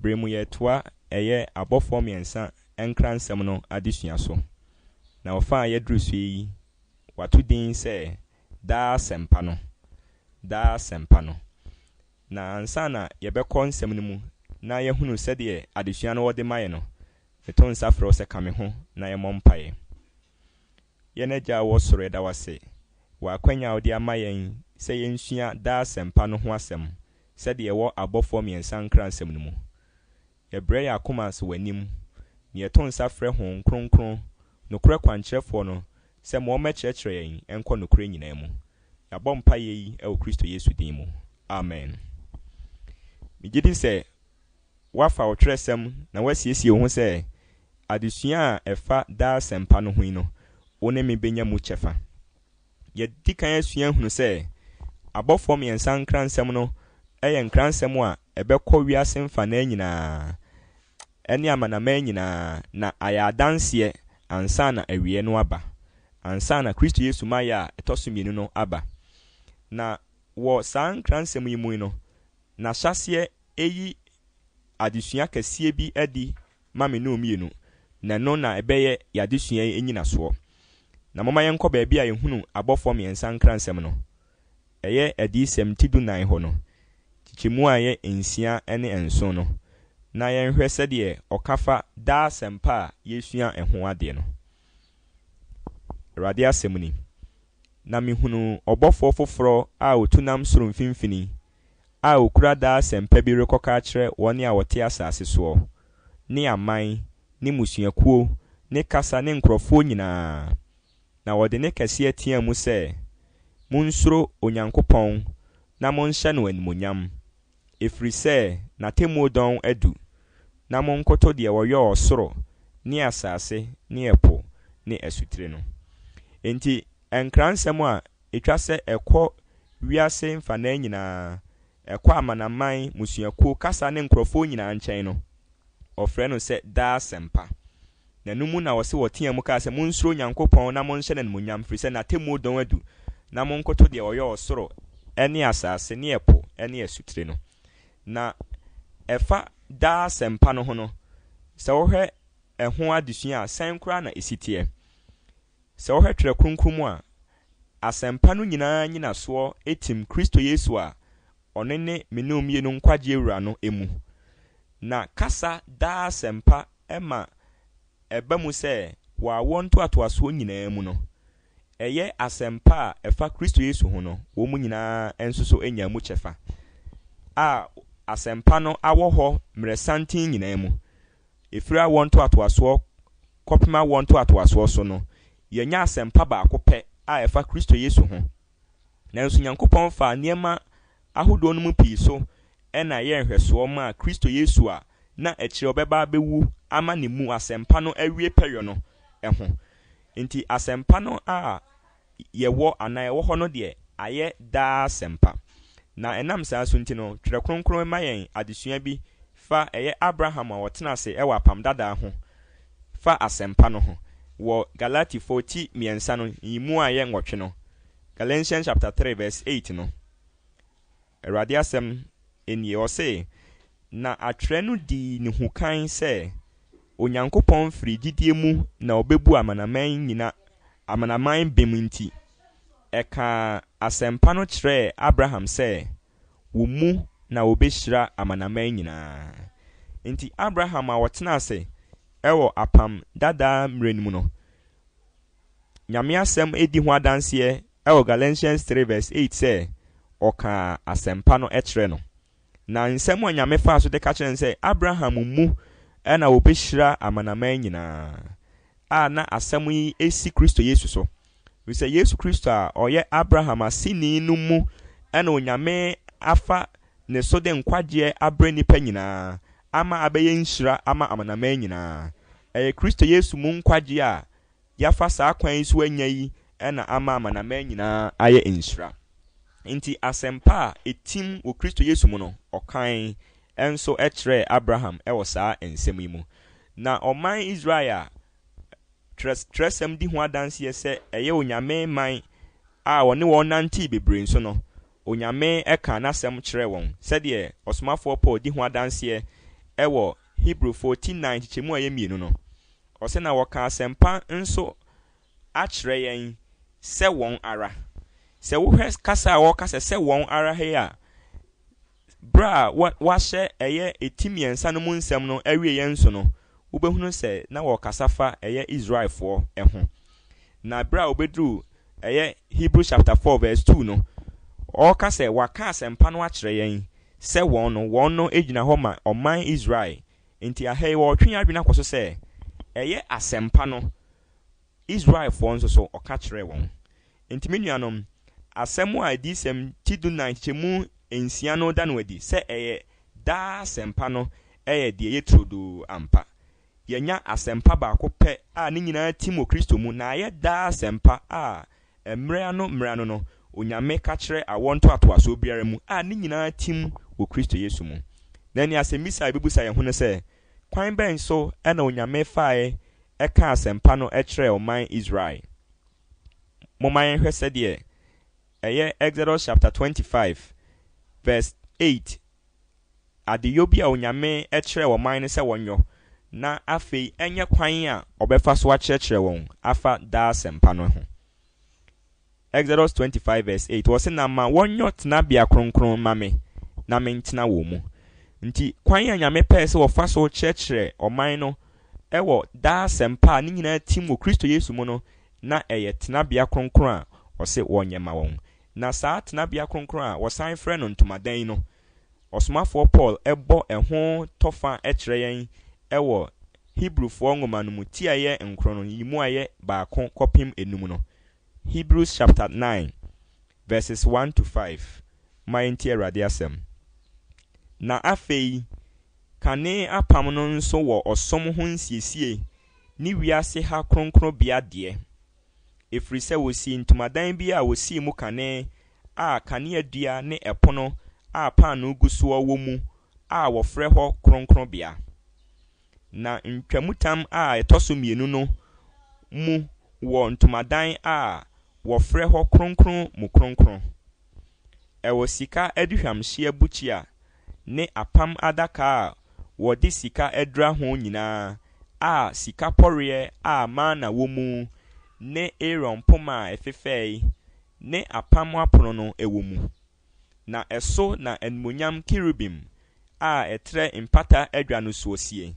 Bere mu yɛretoa ɛyɛ abɔfoɔ mmiɛnsa nkransɛm no adesua so, na ɔfa a yɛaduru so yi wɔato din sɛ Daa Asɛmpa No, Daa Asɛmpa No. Na ansa na yɛbɛkɔ nsɛm no mu na yɛahunu sɛdeɛ adesua no wɔde ma yɛ no, meto nsa frɛ wo sɛ ka me ho na yɛmmɔ mpaeɛ. Yɛn Agya a ɔwɔ soro, yɛda wo ase wɔ akwanya a wode ama yɛn sɛ yɛnsua daa asɛmpa no ho asɛm sɛdeɛ ɛwɔ abɔfoɔ mmiɛnsa nkransɛm no mu. Yɛbrɛ yɛn akoma ase w'anim na yɛto nsa frɛ Honhom Kronkron, nokorɛ kwankyerɛfoɔ no, sɛ ma ɔmmɛkyerɛkyerɛ yɛn nkɔ nokorɛ nyinaa mu. Yɛabɔ mpaeɛ yi wɔ Kristo Yesu din mu. Amen. Megyedi sɛ Woafa wo twerɛsɛm na woasiesie wo ho sɛ adesua a ɛfa daa asɛmpa no ho yi no, wo ne me bɛnya mu kyɛfa. Yɛadi kan asua ahunu sɛ abɔfoɔ mmiɛnsa nkransɛm no yɛ nkransɛm a ɛbɛkɔ wiase mfanaa nyinaa ne amanaman nyinaa na ayɛ adanseɛ ansa na awieɛ no aba, ansa na Kristo Yesu mayɛ a ɛtɔ so mmienu no aba. Na wɔ saa nkransɛm yi mu no, N'ahyɛaseɛ ɛyi adesua kɛseɛ bi adi ma me ne wo mmienu, na ɛno na ɛbɛyɛ yɛn adesua yi nnyinasoɔ. Na momma yɛnkɔ baabi a yɛhunu abɔfoɔ mmiɛnsa nkransɛm no. Ɛyɛ Adiyisɛm ti dunan hɔ no, kyekyɛmu a ɛyɛ nsia ne nson no, na yɛnhwɛ sɛdeɛ ɔka fa daa asɛmpa a yɛresua ho adeɛ no. Awurade asɛm ni, Na mehunuu ɔbɔfoɔ foforɔ a ɔtu nam soro mfimfini a okura daa asɛmpa bi rekɔka akyerɛ wɔn a wɔte asase soɔ, ne aman, ne mmusuakuo, ne kasa, ne nkurɔfoɔ nyina ara, na wɔde nne kɛseɛ teaa mu sɛ, Monsuro Onyankopɔn na monhyɛ no animuonyam, ɛfiri sɛ n'atemmuo dɔn adu, na monkoto deɛ ɔyɔɔ ɔsoro, ne asase, ne ɛpo, ne asutire no. Enti Nkransɛm a. Etwa sɛ ɛkɔ wiase mfanaa nyinaa, ɛkɔ amanaman, mmusuakuo, kasa ne nkorɔfoɔ nyinaa nkyɛn no, wɔfrɛ no sɛ daa asɛmpa. Na ɛno mu na wɔse wɔtea mu kaa sɛ, Monsuro Nyankopɔn na monhyɛ no animuonyam, firi sɛ n'atemmuo dɔn adu, na monkoto deɛ ɔyɔɔ ɔsoro ne asaase ne ɛpo ne asutire no. Na ɛfa daa asɛmpa no ho no, sɛ wohwɛ ɛho adesua a, sɛn koraa na ɛsi teɛ? Sɛ wohwɛ Twerɛ Kronkron mu a, asɛmpa no nyinaa nnyinasoɔ tim Kristo Yesu a ɔno ne me ne wo mmienu nkwagyeɛ Wura no mu. Na kasa daa asɛmpa ma ɛba mu sɛ wɔ awoɔ ntoatoasoɔ nyinaa mu no, ɛyɛ asɛmpa a ɛfa Kristo Yesu ho no wɔn nyinaa nso so nyaa mu kyɛfa, a asɛmpa no awɔ hɔ mmerɛsanten nyinaa mu. Ɛfiri awoɔ ntoatoasoɔ kɔpem awoɔ ntoatoasoɔ so no, yɛanya asɛmpa baako pɛ a ɛfa Kristo Yesu ho. Nanso Nyankopɔn faa nneɛma ahodoɔ no mu pii so na ɛyɛɛ nhwɛsoɔ maa Kristo Yesu a na akyire ɔbɛba abɛwu ama ne mu asɛmpa no awie pɛyɔ no ho. Enti asɛmpa no a. yɛwɔ anaa ɛwɔ hɔ no deɛ, ayɛ daa asɛmpa. Na ɛnam saa so nti no, Twerɛ Kronkron ma yɛn adesua bi fa ɛyɛ Abraham a ɔtena ase wɔ Apam Dadaa ho fa asɛmpa no ho wɔ Galatifoɔ ti mmiɛnsa no nyimu a ɛyɛ nwɔtwe no, Galatians chapter 3 verse 8 no. Awurade asɛm nie, ɔse, Na atwerɛ no dii ne hu kan sɛ, Onyankopɔn firi gyidie mu na ɔbɛbu amanaman nyina amanaman bem nti, ɛkaa asɛmpa no kyerɛɛ Abraham sɛ, Wo mu na wɔbɛhyira amanaman nyina ara. Enti Abraham a ɔtenaa ase wɔ Apam Dadaa mmerɛ no mu no, Nyame asɛm di ho adanseɛ wɔ Galatians three verse eight sɛ ɔkaa asɛmpa no kyerɛ no. Na nsɛm a Nyame faa so de ka kyerɛ no sɛ Abraham mu na wɔbɛhyira amanaman nyinaa a na asɛm yi si Kristo Yesu so. Ɛfiri sɛ Yesu Kristo a ɔyɛ Abraham aseni no mu na Onyame afa ne so de nkwagyeɛ abrɛ nnipa nyinaa ama abɛyɛ nhyira ama amanaman nyinaa. Ɛyɛ Kristo Yesu mu nkwagyeɛ a yɛafa saa kwan yi so anya yi na ama amanaman nyinaa ayɛ nhyira. Enti asɛmpa a etim wɔ Kristo Yesu mu no, ɔkae nso kyerɛɛ Abraham wɔ saa nsɛm yi mu. Ná ɔman Israel a Kyerɛwsɛm di ho adanse sɛ ɛyɛ onyame man a ɔne wɔn nantee bebree nso no, Onyame kaa n'asɛm kyerɛɛ wɔn, sɛdeɛ ɔsomafoɔ Paul di ho adanse wɔ Hebrifo ti nnan nkyekyɛmu a ɛyɛ mmienu no. Ɔse na wɔka asɛmpa nso akyerɛ yɛn sɛ wɔn ara. Sɛ wohwɛ kasa a wɔka sɛ sɛ wɔn ara he a, berɛ a wɔahyɛ ɛyɛ eti mmiɛnsa no mu nsɛm no awieɛ nso no, wobɛhunu sɛ na wɔkasa fa ɛyɛ Israelfoɔ ho. Na berɛ a wɔbɛduru ɛyɛ Hebrews chapter 4 verse 2 no, ɔreka sɛ wɔaka asɛmpa no akyerɛ yɛn sɛ wɔn no, wɔn no gyina hɔ ma ɔman Israel Enti ɛha yi wɔretwe yɛn adwene akɔ so sɛ, ɛyɛ asɛmpa no Israelfoɔ nso so ɔka kyerɛɛ wɔn. Enti me nuanom, asɛm a Adiyisɛm ti dunan nkyekyɛmu nsia no da no adi sɛ ɛyɛ daa asɛmpa no yɛ deɛ ɛyɛ turodoo ampa. Yɛanya asɛmpa baako pɛ a ne nyinaa tim wɔ Kristo mu na ayɛ daa asɛmpa a Mmerɛ ano mmerɛ ano no, Onyame ka kyerɛ awoɔ ntoatoasoɔ biara mu a ne nyinaa tim wɔ Kristo Yesu mu. Na ɛnneɛ asɛmmisa a yɛbɛbisa yɛn ho ne sɛ, Kwan bɛn so na Onyame faae kaa asɛmpa no kyerɛɛ ɔman Israel? Momma yɛnhwɛ sɛdeɛ ɛyɛ Exodus chapter 25 verse 8 adeyɔ bi a Onyame kyerɛɛ ɔman no sɛ wɔnyɔ, na afei ɛnyɛ kwan a ɔbɛfa so akyerɛkyerɛ wɔn afa daa asɛmpa no ho. Exodus 25 verse 8, ɔse, Na ma wɔnyɔ tenabea kronkron mma me, na mentena wɔn mu. Nti, kwan a Nyame pɛɛ sɛ ɔfa so kyerɛkyerɛ ɔman no wɔ daa asɛmpa a ne nyinaa tim wɔ Kristo Yesu mu no, na ɛyɛ tenabea kronkron a ɔse wɔnyɛ ma wɔn. Na saa tenabea kronkron a wɔsan frɛ no ntomadan no, Ɔsomafoɔ Paul bɔ ɛho tɔfa kyerɛ yɛn wɔ Hebrifoɔ nwoma no mu tiaeɛ nkron no, yi mu ayɛ baako kɔpem enum no. Hebrews chapter nine verses one to five, Momma yɛntie Awurade asɛm. Na afei, kane apam no nso wɔ ɔsom ho nsiesie ne wiase ha kronkronbea deɛ. ɛfiri sɛ wɔsii ntomadan bi a wɔsii mu kane a kaneadua ne ɛpono a paanoo gu soɔ wɔ mu a wɔfrɛ hɔ Kronkronbea. Na ntwamutam a ɛtɔ so mmienu no mu wɔ ntomadan a wɔfrɛ hɔ Kronkron Mu Kronkron. Ɛwɔ sika aduhwamhyeɛ bukyia ne apam adaka a wɔde sika adura ho nyinaa, a sika pɔreɛ a mana wɔ mu ne Aaron poma a ɛfefɛɛe ne apam apono no wɔ mu. Na ɛso na animuonyam kerubim a ɛtrɛ mpata adwa no soɔ sie.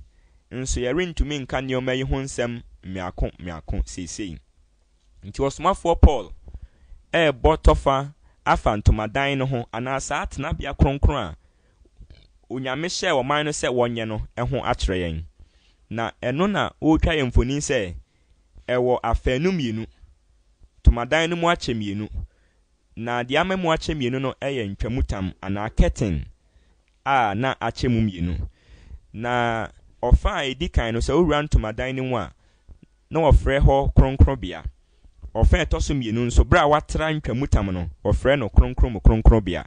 Nso yɛrentumi nka nneɛma yi ho nsɛm mmiako mmiako seesei. Enti ɔsomafoɔ Paul rebɔ tɔfa afa ntomadan no ho anaa saa tenabea kronkron a Onyame hyɛɛ ɔman no sɛ wɔnyɛ no ho akyerɛ yɛn. Na ɛno na ɔretwa yɛn mfonin sɛ ɛwɔ afanu mmienu, ntomadan no mu akyɛ mmienu, na deɛ ama mu akyɛ mmienu no yɛ ntwamutam anaa curtain a na akyɛ mu mmienu. Na ɔfa a ɛdi kan no, sɛ wowura ntomadan no mu a, na wɔfrɛ hɔ kronkronbea. Ɔfã a ɛtɔ so mmienu nso, bere a wɔatra ntwamutam no, wɔfrɛ no Kronkron mu Kronkronbea.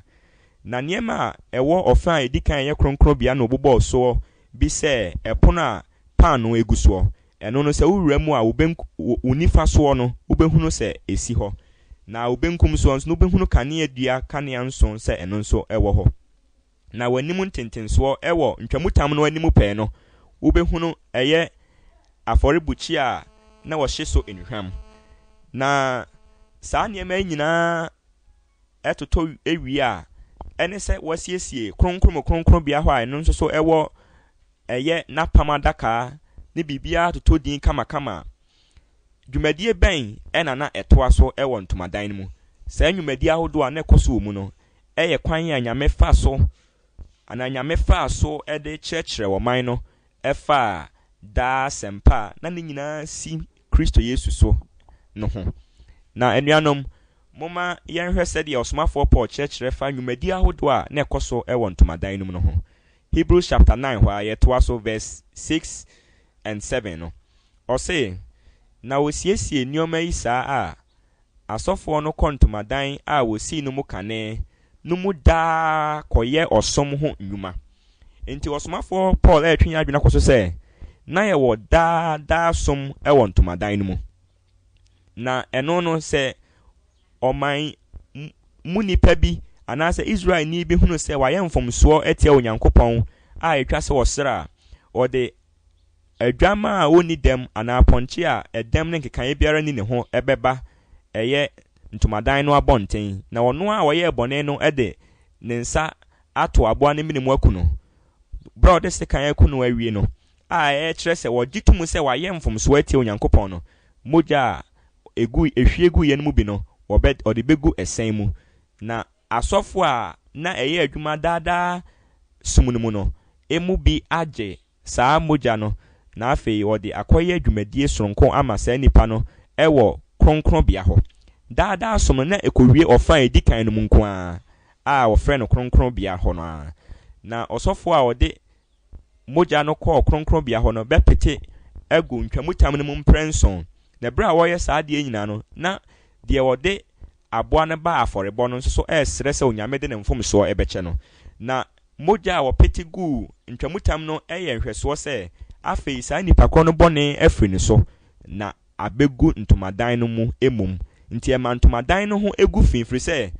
Na nneɛma a ɛwɔ ɔfã a edi kan a ɛyɛ kronkronbea no bobɔɔ soɔ bi sɛ ɛpono a paanoo gu soɔ. Ɛno no, sɛ wowura mu a, wo benk wo nifa soɔ no, wobɛhunu sɛ ɛsi hɔ, na wo benkum soɔ nso no, wobɛhunu kaneadua kanea nson sɛ ɛno nso wɔ hɔ. Na w'anim ntentensoɔ wɔ ntwamutam no anim pɛɛ no, wobɛhunu ɛyɛ afɔrebukyia a na wɔhye so nnuhwam. Na saa nneɛma yi nyinaa totɔ wie a, ɛne sɛ wɔasiesie Kronkron mu Kronkronbea hɔ a ɛno nso so ɛwɔ ɛyɛ n'apam adaka ne biribiara totɔ din kamakama. Dwumadie bɛn na na ɛtoa so wɔ ntomadan no mu? Saa nnwumadie ahodoɔ a na ɛkɔ so wɔ mu no, yɛ kwan a Nyame fa so anaa Nyame faa so de kyerɛkyerɛɛ ɔman no faa daa asɛmpa a na ne nyinaa si Kristo Yesu so no ho. Na anuanom, momma yɛnhwɛ sɛdeɛ ɔsomafoɔ Paul kyerɛkyerɛ fa nnwumadi ahodoɔ a na ɛkɔ so wɔ ntomadan no mu no ho. Hebrews chapter 9 hɔ a yɛtoa so verse 6 and 7 no, ɔse, Na wɔsiesie nneɛma yi saa a, Asɔfoɔ no kɔ ntomadan a wɔsii no mu kane no mu daa kɔyɛ ɔsom ho nnwuma. Enti ɔsomafoɔ Paul retwe yɛn adwene akɔ so sɛ, Na yɛwɔ daa daa som wɔ ntomadan no mu. Na ɛno no, sɛ ɔman mu nipa bi anaasɛ Israelni bi hunu sɛ wayɛ mfomsoɔ atia Onyankopɔn a ɛtwa sɛ ɔsra a, ɔde Adwammaa a ɔnni dɛm anaa pɔnkye a ɛdɛm ne nkekaeɛ biara nni ne ho bɛba ɛyɛ ntomadan no abɔnten, na ɔno a ɔyɛɛ bɔne no de ne nsa ato aboa no mene mu aku no. Berɛ a ɔde sekan aku no awie no, a ɛkyerɛ sɛ ɔgye to mu sɛ wayɛ mfomsoɔ atia Onyankopɔn no, mogya a ɛgu, ɛhwie guiɛ no mu bi no, wɔbɛ, ɔde bɛgu ɛsɛn mu, na Asɔfo a na ɛyɛ adwuma daa daa som no mu no mu bi agye saa mogya no na afei wɔde akɔyɛ dwumadie sononko ama saa nnipa no wɔ kronkronbea hɔ. Daa daa som no na ɛkɔwie ɔfa a ɛdi kan no mu nko ara a wɔfrɛ no kronkronbea hɔ no ara. Na ɔsɔfoɔ a ɔde mogya no kɔɔ kronkronbea hɔ no bɛpete agu ntwamutam no mu mprɛnson, na berɛ a wɔreyɛ saa adeɛ nyinaa no na deɛ ɔde aboa no ba afɔrebɔ no nso so resrɛ sɛ Onyame de ne mfomsoɔ bɛkyɛ no. Na mogya a wɔpete guu ntwamutam no yɛ nhwɛsoɔ sɛ afei saa nipa korɔ no bɔne afiri ne so na abɛgu ntomadan no mu mmom. Nti ɛma ntomadan no ho gu fi firi sɛ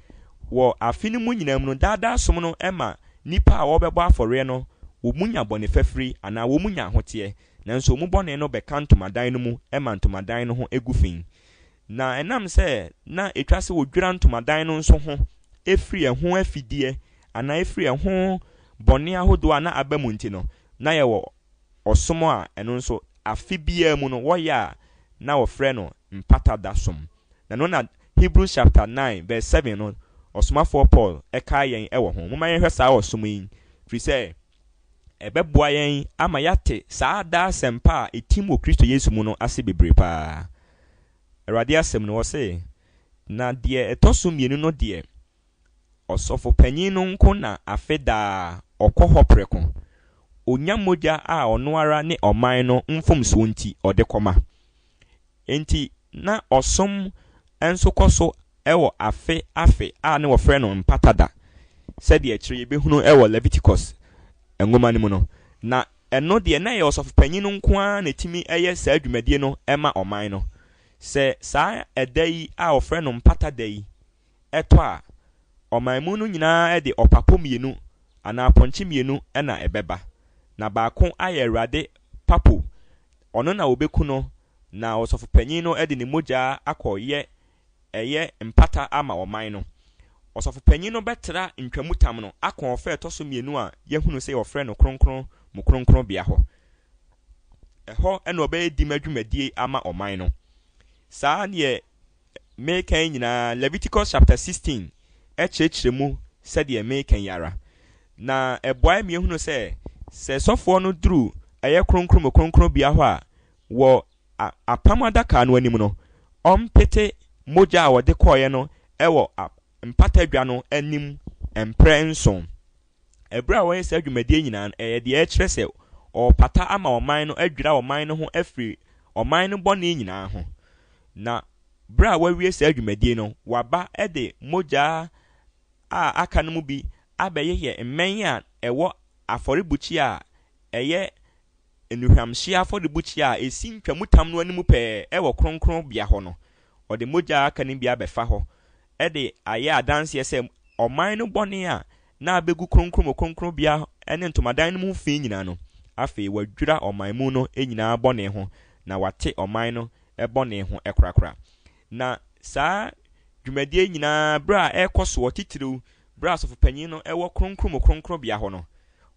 wɔ afe no mu nyinaa mu no daadaa som no ma nipa a wɔrebɛbɔ afɔreɛ no wɔn nya bɔne fafiri anaa wɔn nya ahoteɛ nanso wɔn bɔne no bɛka ntomadan no mu ma ntomadan no ho gu fi. Na ɛnam sɛ na ɛtwa sɛ wɔdwira ntomadan no nso ho firi ɛho afideɛ anaa firi ɛho bɔne ahodoɔ a na aba mu nti no, na yɛwɔ ɔsom a ɛno nso afe biara mu no wɔyɛ a na wɔfrɛ no Mpata Da Som. Na ɛno na Hebrews chapter 9 verse 7 no, ɔsomafoɔ Paul kae yɛn wɔ ho. Momma yɛnhwɛ saa ɔsom yi, firi sɛ ɛbɛboa yɛn ama yɛate saa daa asɛmpa a ɛtim wɔ Kristo Yesu mu no ase bebree paa. Awurade asɛm no, ɔse, Na deɛ ɛtɔ so mmienu no deɛ, ɔsɔfopanyin no nko na afe daa ɔkɔ hɔ prɛko, ɔnya mogya a ɔno ara ne ɔman no mfomsoɔ nti ɔde kɔma. Enti na ɔsom nso kɔ so wɔ afe afe a na wɔfrɛ no Mpata Da, sɛdeɛ akyire yi yɛbɛhunu wɔ Leviticus nwoma no mu no. Na ɛno deɛ, na ɛyɛ ɔsɔfopanin nko ara na ɛtumi yɛ saa dwumadie no ma ɔman no. Sɛ saa ɛda yi a wɔfrɛ no Mpata Da yi tɔ a, ɔman mu no nyinaa de ɔpapo mmienu anaa apɔnkye mmienu na ɛbɛba, na baako ayɛ Awurade papo, Ɔno na wɔbɛku no, na ɔsɔfopanin no de ne mogya akɔ yɛ ɛyɛ mpata ama ɔman no. Ɔsɔfopanin no bɛtra ntwamutam no akɔɔfa a ɛtɔ so mmienu a yɛahunu sɛ wɔfrɛ no kronkron mu kronkronbea hɔ. Ɛhɔ na ɔbɛyɛ dima dwumadie ama ɔman no. Saa deɛ mereka yi nyinaa, Leviticus chapter 16 kyerɛkyerɛ mu sɛdeɛ mereka yi ara. Na ɛboae ma yɛhunu sɛ, sɛ sɔfoɔ no duru ɛyɛ kronkron mu kronkron bea hɔ a, wɔ apam adaka no anim no, ɔmpete mogya a wɔde kɔeɛ no wɔ mpata dwa no anim mprɛ nson. Bere a wɔyɛ saa dwumadie nyinaa no, ɛyɛ deɛ ɛkyerɛ sɛ wɔrepata ama ɔman no, adwira ɔman no ho afiri ɔman no bɔne nyinaa ho. Na bere a wɔawie saa dwumadie no, wɔaba de mogya a aka no mu bi abɛyeyɛ mmɛn a ɛwɔ afɔrebukyia a ɛyɛ nnuhwamhyeɛ afɔrebukyia a ɛsi ntwamutam no anim pɛɛ wɔ kronkronbea hɔ no, ɔde mogya a aka no bi abɛfa hɔ de ayɛ adanseɛ sɛ ɔman no bɔne a na abɛgu kronkron mu kronkronbea ne ntomadan no mu fi nyinaa no, afei wadwira ɔman mu no nyinaa bɔne ho na wate ɔman no bɔne ho korakora. Na saa dwumadie yi nyinaa berɛ a ɛrekɔ soɔ titiriw Bere a Asɔfo Panyin no wɔ Kronkron mu Kronkronbea hɔ no,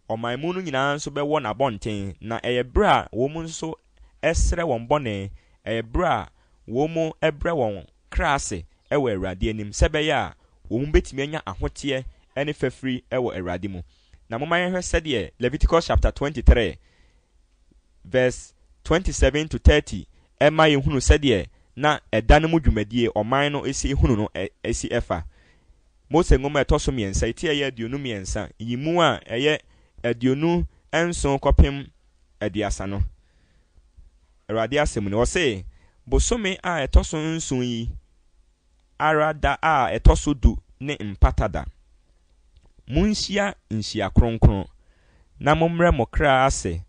ɔman mu no nyinaa nso bɛwɔ n'abɔnten, na ɛyɛ bere a wɔn nso srɛ wɔn bɔne, ɛyɛ bere a wɔbrɛ wɔn kra ase wɔ Awurade anim sɛ ɛbɛyɛ a wɔn betumi anya ahoteɛ ne fafiri wɔ Awurade mu. Na momma yɛnhwɛ sɛdeɛ Leviticus chapter twenty three verse twenty seven to thirty ma yɛhunu sɛdeɛ na ɛda no mu dwumadie ɔman no si hunu no si fa. Mose Nwoma a ɛtɔ so mmiɛnsa yi ti a ɛyɛ aduonu mmiɛnsa yi mu a ɛyɛ aduonu nson kɔpem aduasa no. Awurade asɛm ni. Ɔse, Bosome a ɛtɔ so nson yi ara da a ɛtɔ so du ne Mpata Da. Monhyia nhyia kronkron, na mommrɛ mo kra ase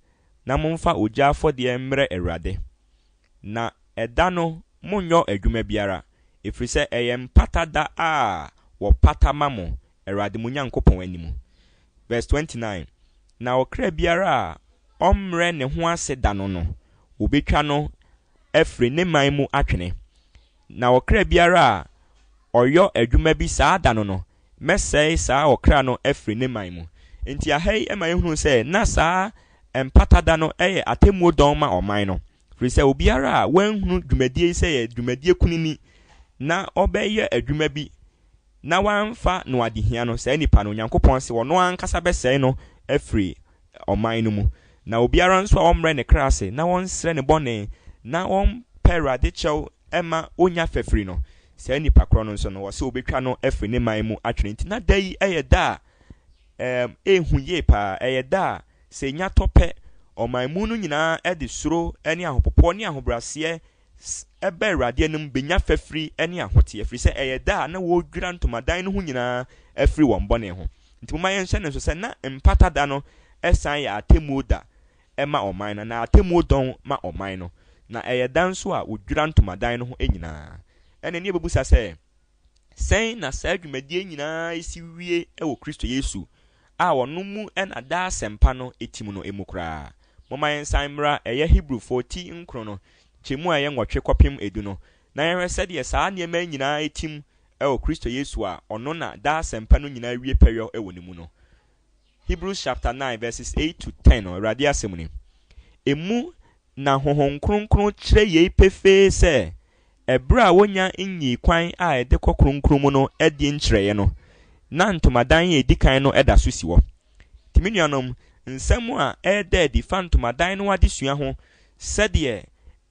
na momfa ogya afɔdeɛ mmrɛ Awurade. Na ɛda no monnyɔ adwuma biara, ɛfiri sɛ ɛyɛ Mpata Da a wɔpata ma mo Awurade mo Nyankopɔn anim. Verse 29, Na ɔkra biara a ɔmmrɛ ne ho ase da no no, wɔbɛtwa no afiri ne man mu atwene. Na ɔkra biara a ɔyɔ adwuma bi saa da no no, mɛsɛe saa ɔkra no afiri ne man mu. Enti aha yi ma yɛhunu sɛ na saa Mpata Da no yɛ atemmuo dɔn ma ɔman no, firi sɛ obiara a wanhunu dwumadie yi sɛ ɛyɛ dwumadie kunini na ɔbɛyɔ adwuma bi na wamfa no adehia no, saa nipa no, Onyankopɔn se ɔno ankasa bɛsɛe no afiri ɔman no mu. Na obiara nso a ɔmmrɛ ne kra ase na ɔnsrɛ ne bɔne na ɔmpɛ Awurade kyɛw mma ɔnya fafiri no, saa nipa korɔ no nso no, wɔse wɔbɛtwa no afiri ne man mu atwene. Enti na da yi yɛ da a ɛhu yie pa ara, ɛyɛ da a sɛ ɛnya tɔ pɛ, ɔman mu no nyinaa de suro ne ahopopoɔ ne ahobraseɛ S, Ɛba Awurade anim benya fafiri ne ahoteɛ, ɛfiri sɛ ɛyɛ da a na wɔredwira ntomadan no ho nyinaa afiri wɔn bɔne ho. Nti momma yɛnhyɛ no nso sɛ na Mpata Da no san yɛ atemmuo da ma ɔman no, anaa atemmuo dɔn ma ɔman no, na ɛyɛ da nso a wɔdwira ntomadan no ho nyinaa. Ɛnna ɛnneɛ bɛbusa sɛ. Sɛn na saa dwumadie nyinaa si wie wɔ Kristo Yesu a ɔno mu na daa asɛmpa no tim no mu koraa? Momma yɛnsan mmra ɛyɛ Hebrifoɔ ti nkron no nkyɛmu a ɛyɛ nwɔtwe kɔpem edu no na yɛnhwɛ sɛdeɛ saa nneɛma yi nyinaa tim wɔ Kristo Yesu a ɔno na daa asɛmpa no nyinaa wie pɛyɔ wɔ ne mu no Hebrews chapter nine verses eight to ten no, Awurade asɛm ni. Emu na Honhom Kronkron kyerɛ yei pefee sɛ, ɛberɛ a wɔnya nyii kwan a ɛde kɔ Kronkron mu no adie nkyerɛeɛ no, na ntomadan a ɛdi kan no da so si hɔ. Nti me nuanom, nsɛm a ɛreda adi fa ntomadan no adesua ho sɛdeɛ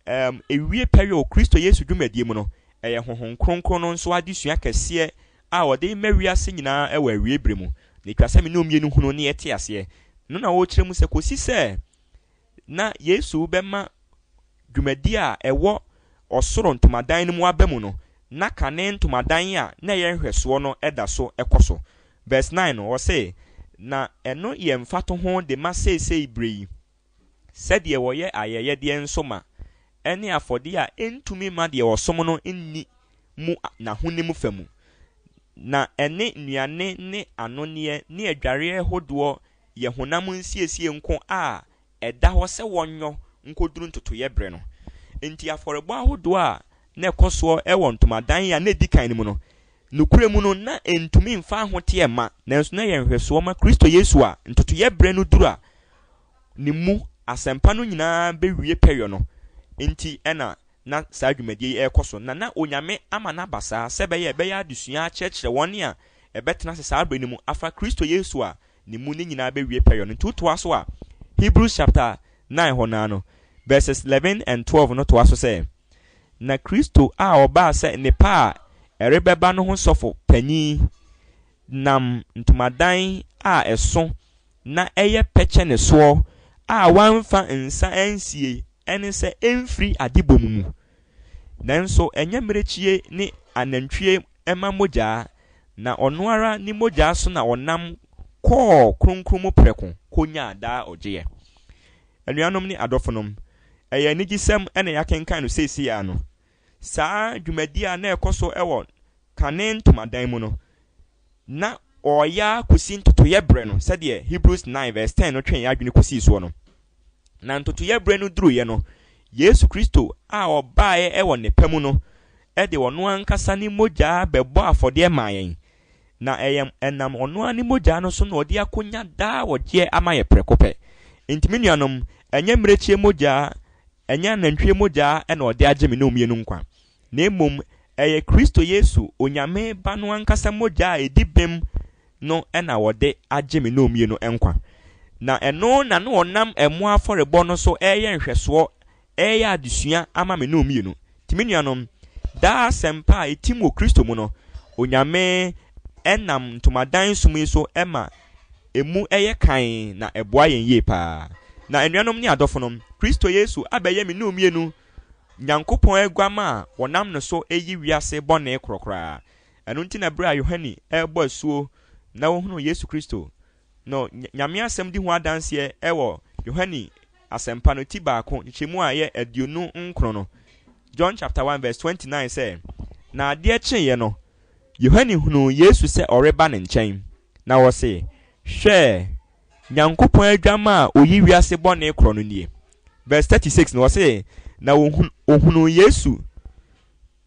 Um, ewie pɛyɛ wɔ Kristo Yesu dwumadie mu no, ɛyɛ Honhom Kronkron no nso adesua kɛseɛ a ɔde rema wiase nyinaa wɔ awiei berɛ mu, na ɛtwa sɛ me ne ɔmmienu hunu ne ɛte aseɛ no na ɔrekyerɛ mu sɛ kɔsi sɛ na Yesu bɛma dwumadie a ɛwɔ ɔsoro ntomadan no mu aba mu no, na kane ntomadan a na ɛyɛ nhwɛsoɔ no da so kɔ so. Verse 9 no, ɔse, Na ɛno yɛ mfatoho de ma seesei berɛ yi, Sɛdeɛ wɔyɛ ayɛyɛdeɛ nso ma ɛne afɔdeɛ a ɛntumi mma deɛ ɔsom no nni mu n'ahonim fa mu, na ɛne nnuane ne anonneɛ ne adwareɛ hodoɔ yɛ honam nsiesie nko a ɛda hɔ sɛ wɔnyɔ nkɔduru ntotoeɛ berɛ no. Enti afɔrebɔ ahodoɔ a na ɛkɔ soɔ wɔ ntomadan a na ɛdi kan no mu no, Nokorɛ mu no, na ɛntumi mfa ahoteɛ mma, nanso na ɛyɛ nhwɛsoɔ ma Kristo Yesu a ntotoeɛ berɛ no duru a Ne mu asɛmpa no nyinaa bɛwie pɛyɔ no nti na na saa dwumadie yi rekɔ so, na na Onyame ama no aba saa sɛ ɛbɛyɛ a ɛbɛyɛ adesua akyerɛkyerɛ wɔn a ɛbɛtena ase saa berɛ no mu afa Kristo Yesu a Ne mu ne nyinaa bɛwie pɛyɔ no nti. Wotoa so a Hebrews chapter nine hɔ no ara no, verses eleven and twelve no toa so sɛ. Na Kristo a ɔbaa sɛ nnepa a ɛrebɛba no ho sɔfo panyin nam ntomadan a ɛso na ɛyɛ pɛ kyɛ ne soɔ a wamfa nsa ansie ɛne sɛ ɛmfiri adebɔ mu mu, nanso ɛnyɛ mmirekyie ne anantwie mma mogyaa, na ɔno ara ne mogyaa so na ɔnam kɔɔ kronkron mu prɛko kɔnyaa daa ɔgyeɛ. Anuanom ne adɔfonom, Ɛyɛ anigyesɛm na yɛakenkan no seesei ara no. Saa dwumadi a na ɛkɔ so wɔ kane ntomadan mu no, na wɔreyɛ ara kosi ntotoeɛ berɛ no, sɛdeɛ Hebrews 9 verse 10 no twe yɛn adwene kɔsii soɔ no. Na ntotoeɛ berɛ no duruiɛ no, Yesu Kristo a ɔbaeɛ wɔ nnepa mu no de ɔno ankasa ne mogya bɛbɔ afɔdeɛ maa yɛn Na ɛyɛ ɛnam ɔno ara ne mogyaa no so na ɔde akonya daa wɔgyeɛ ama yɛ prɛko pɛ. Nti me nuanom, ɛnyɛ mmirekyie mogyaa, ɛnyɛ anantwie mogyaa na ɔde agye me ne omienu nkwa, na mmom ɛyɛ Kristo Yesu, Onyame Ba no ankasa mogyaa a ɛdi bem no na wɔde agye me ne omienu nkwa. Na ɛno na na ɔnam ɛmmoa afɔrebɔ no so reyɛ nhwɛsoɔ Ɛyɛ adesua ama me ne wɔn mmienu. Nti me nuanom, daa asɛmpa a etim wɔ Kristo mu no, Onyame nam ntomadan som yi so ma emu yɛ kann na ɛboa yɛn yie paa. Na anuanom ne adɔfonom, Kristo Yesu abɛyɛ me ne wɔn mmienu Nyankopɔn aguammaa a wɔnam ne so reyi wiase bɔne korɔkoraa. Ɛno nti na bere a Yohane rebɔ asuo na ɔhunuu Yesu Kristo, no Nyame asɛm di ho adanseɛ wɔ Yohane Asɛmpa no ti baako nkyekyɛmu a ɛyɛ aduonu nkron no, John chapter 1 verse 29 sɛ, Na adeɛ kyeeɛ no, Yohane hunuu Yesu sɛ ɔreba ne nkyɛn, na ɔse, Hwɛ, Nyankopɔn adwammaa a ɔyi wiase bɔne korɔ no nie. Verse 36 no ɔse, Na ɔhunuu Yesu,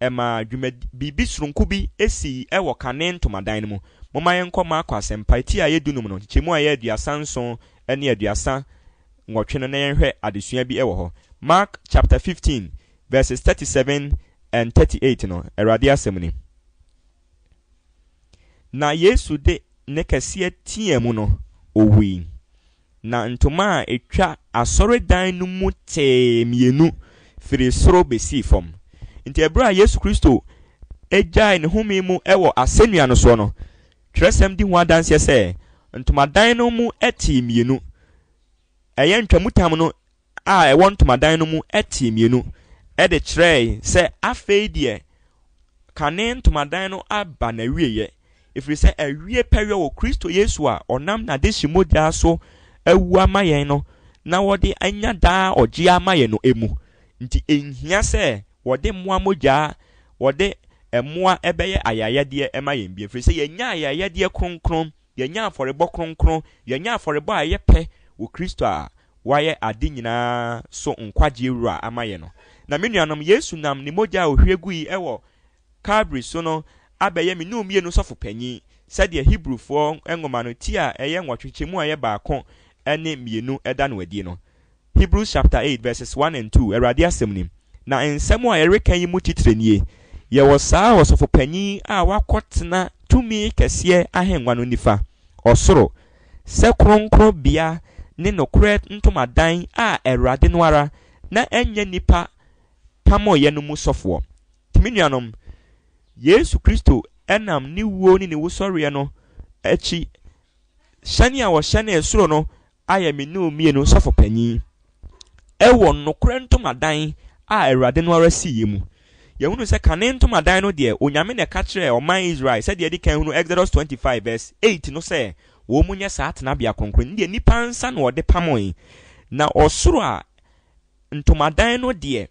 Ɛmaa dwumad biribi soronko bi sii wɔ kane ntomadan no mu. Momma yɛnkɔ Marko Asɛmpa ti a ɛyɛ dunum no, nkyekyɛmu a ɛyɛ aduasa nson ne aduasa nwɔtwe no na yɛnhwɛ adesua bi wɔ hɔ. Mark chapter 15 verses 37 and 38 no, Awurade asɛm ni, Na Yesu de nne kɛseɛ teaa mu no, ɔwui. Na ntoma a ɛtwa asɔredan no mu tee mmienu firii soro bɛsii fam. Enti ɛberɛ a Yesu Kristo gyaee ne home mu wɔ asɛnnua no soɔ no, twerɛsɛm di ho adanseɛ sɛ ntomadan no mu tee mmienu, ɛyɛ ntwamutam no a ɛwɔ ntomadan no mu tee mmienu de kyerɛe sɛ afei deɛ kane ntomadan no aba n'awieeɛ, ɛfiri sɛ awie pɛyɛ wɔ Kristo Yesu a ɔnam n'adehye mogya so awu ama yɛn no na wɔde anya daa ɔgyeɛ ama yɛn no mu. Nti ɛnhia sɛ wɔde mmoa mogya wɔde mmoa bɛyɛ ayayɛdeɛ ma yɛn bio, ɛfiri sɛ yɛanya ayayɛdeɛ kronkron, yɛanya afɔrebɔ kronkron, yɛanya afɔrebɔ a ɛyɛ pɛ wɔ Kristo a Wayɛ ade nyinaa so nkwagyeɛ Wura ama yɛn no. Na me nuanom, Yesu nam Ne mogya a Ɔhwie gui wɔ Kalvary so no abɛyɛ me ne omienu sɔfo panyin, sɛdeɛ Hebrifoɔ nwoma no ti a ɛyɛ nwɔtwe kyɛ mu a ɛyɛ baako ne mmienu da no adie no. Hebrews chapter eight verses one and two, Awurade Asɛm ni. Na nsɛm a yɛreka yi mu titire nie, Yɛwɔ saa Ɔsɔfo Panyin a wakɔtena tumi kɛseɛ ahennwa no nifa, ɔsoro, sɛ kronkronbea ne nokorɛ ntomadan a Awurade no ara, na ɛnyɛ nnipa pamoeɛ no mu sɔfoɔ. Nti me nuanom, Yesu Kristo nam ne wuo ne ne wusɔreɛ no akyi hyɛne a ɔhyɛnee soro no ayɛ me ne wo mmienu sɔfopanyin. Wɔ nokorɛ ntomadan a Awurade no ara siiɛ mu, yɛhunu sɛ kane ntomadan no deɛ, Onyame na ɛka kyerɛɛ ɔman Israel, sɛdeɛ yɛadi kan hunu Exodus twenty five vs eight no sɛ, Wɔn nyɛ saa tenabea kronkron no deɛ nnipa nsa na wɔde pamoe, na ɔsoro a ntomadan no deɛ,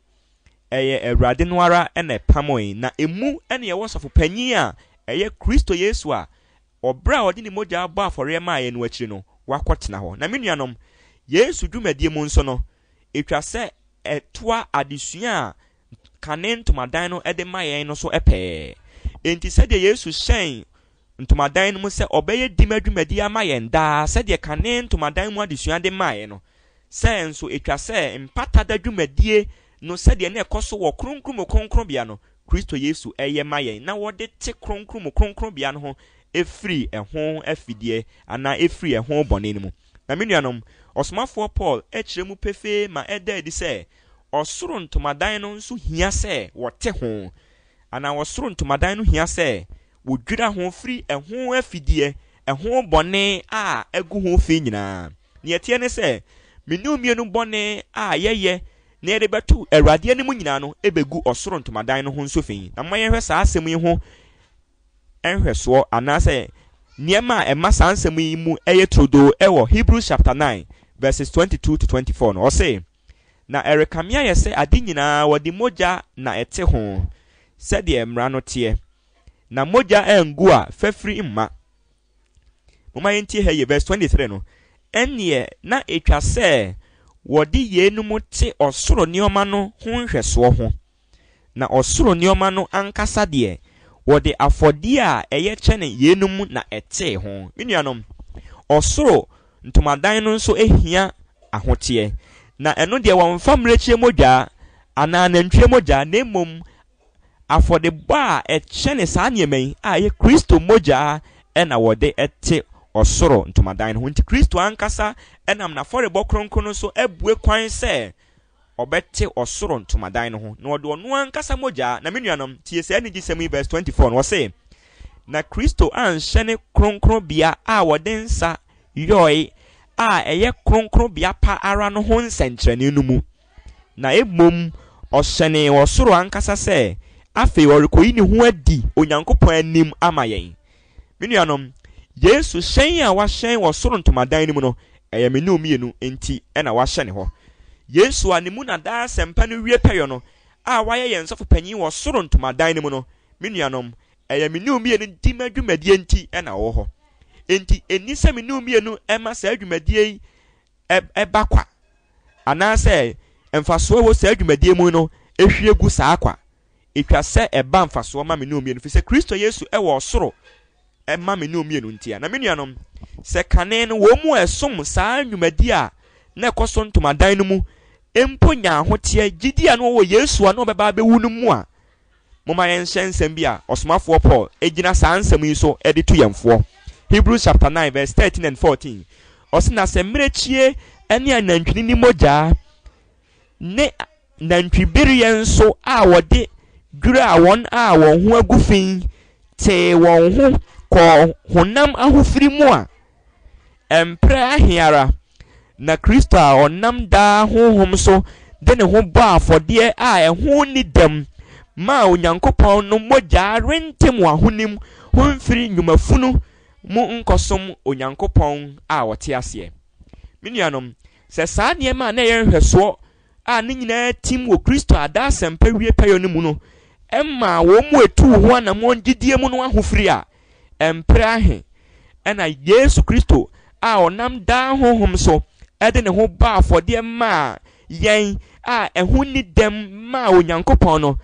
ɛyɛ Awurade no ara na ɛpamoe, na emu na ɛwɔ sɔfopanyin a ɛyɛ Kristo Yesu a Wɔ berɛ a ɔde ne mogyaa bɔɔ afɔreɛ maa yɛn no akyiri no, wakɔtena hɔ. Na me nuanom, Yesu dwumadie mu nso no, ɛtwa sɛ ɛtoa adesua a kane ntomadan no de ma yɛn no so pɛɛ. Enti sɛdeɛ Yesu hyɛn ntomadan no mu sɛ ɔbɛyɛ dima dwumadie ama yɛn daa sɛdeɛ kane ntomadan mu adesua de maeɛ no, sɛɛ nso ɛtwa sɛ Mpata Da dwumadie no sɛdeɛ na ɛkɔ so wɔ Kronkron Mu Kronkronbea no Kristo Yesu yɛ ma yɛn na wɔde te Kronkron mu Kronkronbea no ho firi ɛho afideɛ anaa ɛfiri ɛho bɔne no mu. Na me nuanom, ɔsomafoɔ Paul kyerɛ mu pefee ma ɛda adi sɛ ɔsoro ntomadan no nso hia sɛ wɔte ho, anaa ɔsoro ntomadan no hia sɛ wɔdwira ho firi ɛho afideɛ, ɛho bɔne a agu ho fi nyinaa. Deɛ ɛteɛ ne sɛ, me ne wo mmienu bɔne a yɛyɛ Nea yɛde bɛto Awurade anim nyinaa no begu ɔsoro ntomadan no ho nso fi. Na momma yɛnhwɛ saa asɛm yi ho nhwɛsoɔ anaasɛ nneɛma a ɛma saa nsɛm yi mu yɛ turodoo wɔ Hebrews chapter nine verses twenty two to twenty four no. Ɔse, Na ɛrekame ayɛ sɛ ade nyinaa wɔde mogya na ɛte ho, sɛdeɛ mmara no teɛ, na mogya angu a fafiri mma. Momma yɛntie ha yie, verse 23 no. Ɛnneɛ na ɛtwa sɛ wɔde yeinom te ɔsoro nneɛma no ho nhwɛsoɔ ho. Na ɔsoro nneɛma no ankasa deɛ, wɔde afɔdeɛ a ɛyɛ kyɛne yeinom na ɛtee ho. Me nuanom, ɔsoro ntomadan no nso hia ahoteɛ. Na ɛno deɛ wɔmfa mmirekyie mogya anaa nantwie mogya, na mmom Afɔdebɔ a ɛkyɛne saa nneɛma yi a ɛyɛ Kristo mogya na wɔde te ɔsoro ntomadan no ho. Enti Kristo ankasa nam n'afɔrebɔ kronkron no so abue kwan sɛ ɔbɛte ɔsoro ntomadan no ho, na ɔde ɔno ankasa mogya. Na me nuanom, tie saa anigyesɛm yi, verse 24 no, ɔse, Na Kristo anhyɛ ne kronkronbea a wɔde nsa yɔe a ɛyɛ kronkronbea pa ara no ho nsɛnkyerɛnne no mu, na mmom ɔhyɛnee wɔ soro ankasa sɛ afei ɔrekoyi ne ho adi Onyankopɔn anim ama yɛn. Me nuanom, Yesu hyɛn a wahyɛn wɔ soro ntomadan no mu no, ɛyɛ me ne mmienu nti na wahyɛne hɔ. Yesu a ne mu na daa asɛmpa no wie pɛyɔ no a wayɛ yɛn sɔfo panyin wɔ soro ntomadan no mu no, me nuanom, ɛyɛ me ne mmienu di ma dwumadie nti na ɔwɔ hɔ. Enti enni sɛ me ne mmienu ma saa dwumadie yi ɛba kwa anaasɛ mfasoɔ wɔ saa dwumadie mu no hwie gu saa kwa. Ɛtwa sɛ ɛba mfasoɔ ma me ne omienu, firi sɛ Kristo Yesu wɔ ɔsoro ma me ne omienu ntia. Na me nuanom, sɛ kane no wɔn mu a ɛsom saa nnwumadie a na ɛkɔ so ntomadan no mu mpo nya ahoteɛ gyidie a na wɔwɔ Yesu a na ɔbɛba abɛwu no mu a, Momma yɛnhyɛ nsɛm bi a ɔsomafoɔ Paul gyina saa nsɛm yi so de tu yɛn foɔ. Hebrews chapter nine verse thirteen and fourteen, ɔse, Na sɛ mmirekyie ne anantwinini mogya ne nantwibereɛ nso a wɔde dwiraa wɔn a wɔn ho agu fi tee wɔn ho kɔɔ honam ahofiri mu a, Mprɛ ahe ara na Kristo a ɔnam daa honhom so de ne ho bɔɔ afɔdeɛ a ɛho nni dɛm maa Onyankopɔn no mogya rente mo ahonim ho mfiri nnwuma funu mu nkɔsom Onyankopɔn a ɔte aseɛ. Me nuanom, sɛ saa nneɛma a na ɛyɛ nhwɛsoɔ a ne nyinaa tim wɔ Kristo ada asɛmpa wie pɛyɔ no mu no mmaa wɔn mu etuu ho anammɔn gyidie mu no ahofiri a, Mpere ahe na Yesu Kristo a ɔnam daa honhom so de ne ho bɔɔ afɔdeɛ maa yɛn a ɛho nni dɛm maa Onyankopɔn no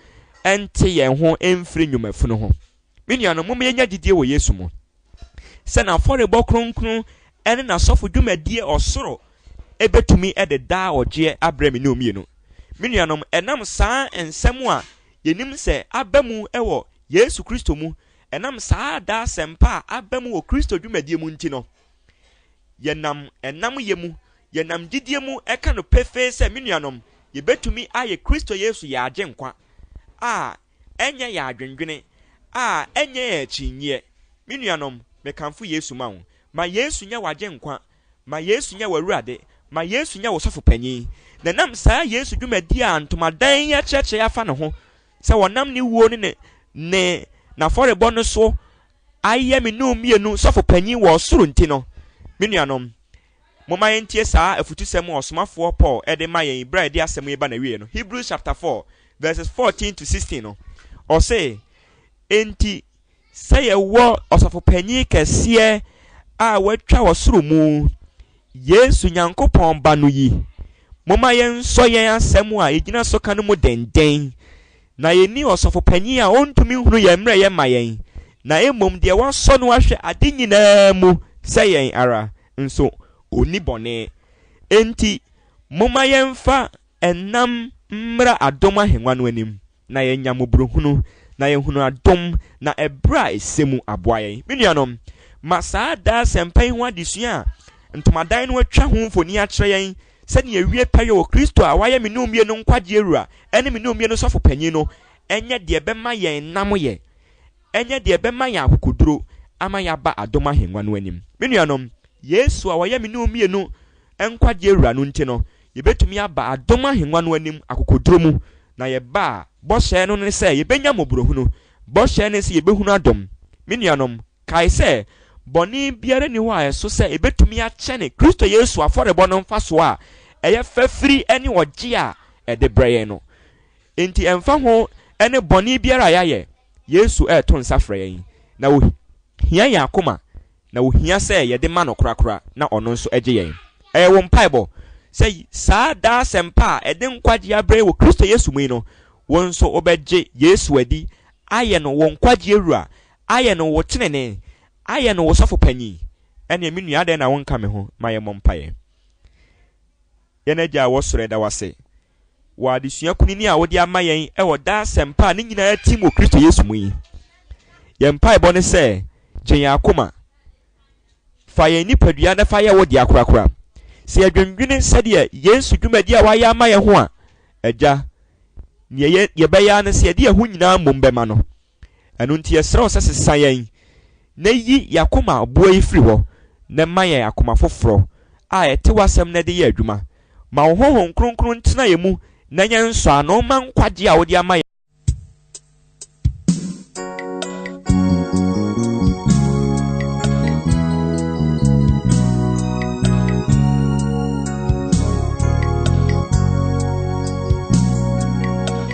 nte yɛn ho mfiri nnwumafunu ho? Me nuanom, mom yɛnya gyidie wɔ Yesu mu sɛ n'afɔrebɔ kronkron ne n'asɔfo dwumadie ɔsoro bɛtumi de daa ɔgyeɛ abrɛ me ne omienu. Me nuanom, ɛnam saa nsɛm a yɛnim sɛ aba mu wɔ Yesu Kristo mu Ɛnam saa daa asɛmpa a aba mu wɔ Kristo dwumadie mu nti no, yɛnam ɛnam yɛ mu, yɛnam gyidie mu ɛka no pefee sɛ, Me nuanom, yɛbɛtumi ayɛ Kristo Yesu yɛn Agyenkwa a ɛnyɛ yɛn adwendwene, a ɛnyɛ yɛn akyinnyɛ. Me nuanom, mekamfo Yesu ma wo. Ma Yesu nyɛ w'Agyenkwa. Ma Yesu nyɛ w'Awurade. Ma Yesu nyɛ wo Sɔfo Panin. Na ɛnam saa Yesu dwumadie a ntomadan yi akyerɛkyerɛ afa ne ho sɛ wɔnam ne wuo ne ne n'afɔrebɔ no so ayɛ me num mmienu sɔfo panyin wɔ ɔsoro nti no, me nuanom, momma yɛntie saa afutusɛm a ɔsomafoɔ Paul de ma yɛn berɛ a yɛde asɛm yi reba n'awieeɛ no, Hebrews chapter 4 verses 14 to 16 no, ɔse, Enti, sɛ yɛwɔ Ɔsɔfopanyin kɛseɛ a watwa wɔ soro mu, Yesu, Nyankopɔn Ba no yi, momma yɛnsɔ yɛn asɛm a yɛgyina so ka no mu denden, na yɛnni ɔsɔfopanyin a ɔntumi nhunu yɛn mmerɛyɛ mma yɛn, na mmom deɛ wɔasɔ no ahwɛ ade nyinaa mu sɛ yɛn ara, nso ɔnni bɔne. Enti momma yɛmfa ɛnam mmra adom ahennwa no anim. na yɛanya mmɔborɔhunu, na yɛahunu adom, na ɛberɛ a ɛsɛ mu aboa yɛn. Me nuanom, ma saa daa asɛmpa yi ho adesua a ntomadan no atwa ho mfoni akyerɛ yɛn sɛ nea ɛwie pɛyɛ wɔ Kristo a wayɛ me ne omie no nkwagyeɛ Wura ne me ne omie no Sɔfo Panin no nyɛ deɛ ɛbɛma yɛn nnam yɛ nyɛ deɛ ɛbɛma yɛn akokoduro ama yɛaba adom ahengua no anim. Me nuanom, Yesu a ɔyɛ me ne omie no nkwagyeɛ Wura no nti no, yɛbɛtumi aba adom ahengua no anim akokoduro mu Na yɛba a, bɔhyɛ no ne sɛ yɛbɛnya mmɔborɔhunu. Bɔhyɛ ne sɛ yɛbɛhunu adom. Me nuanom, kae sɛ, bɔne biara nni hɔ a ɛso sɛ ɛbɛtumi akyɛne Kristo Yesu afɔrebɔ no mfasoɔ a ɛyɛ fɛ firi ne ɔgyeɛ a ɛde brɛ yɛn no. Enti ɛmfa ho ne bɔne biara a yɛayɛ, Yesu reto nsa frɛ yɛn, na ɔhia yɛn akoma. na ohia sɛ yɛde ma no korakora na ɔno nso gye yɛn. Ɛyɛ wo mpaebɔ sɛ saa daa asɛmpa a ɛde nkwagye abrɛ wɔ Kristo Yesu mu yi no, wo nso wobɛgye Yesu adi ayɛ no wo nkwagyeɛ Wura, ayɛ no wo tenenee, ayɛ no wo Sɔfo Panyin? Ɛneɛ me nua adɛn na wonka me ho ma yɛmmɔ mpaeɛ. Yɛn Agya a ɛwɔ Soro yɛda wo ase. wɔ adesua kunini a wode ama yɛn wɔ daa asɛmpa a ne nyinaa tim wɔ Kristo Yesu mu yi. Yɛn mpaebɔ ne sɛ, gye yɛn akoma. Fa yɛn nipadua na fa yɛ wo dea korakora. Sɛ yɛdwendwene sɛdeɛ Yesu dwumadi a wayɛ ama yɛn ho a, Agya, nea yɛbɛyɛ ara ne sɛ yɛde yɛn ho nyinaa mmom bɛma no. Ɛno nti yɛsrɛ wo sɛ sesa yɛn na yi y'akoma boɔ yi firi hɔ na ma yɛn akoma foforɔ a ɛte w'asɛm na ɛde yɛ adwuma. Ma wo Honhom Kronkron ntena yɛn mu na nyɛ nsɔano mma nkwagyeɛ a wode ama yɛn.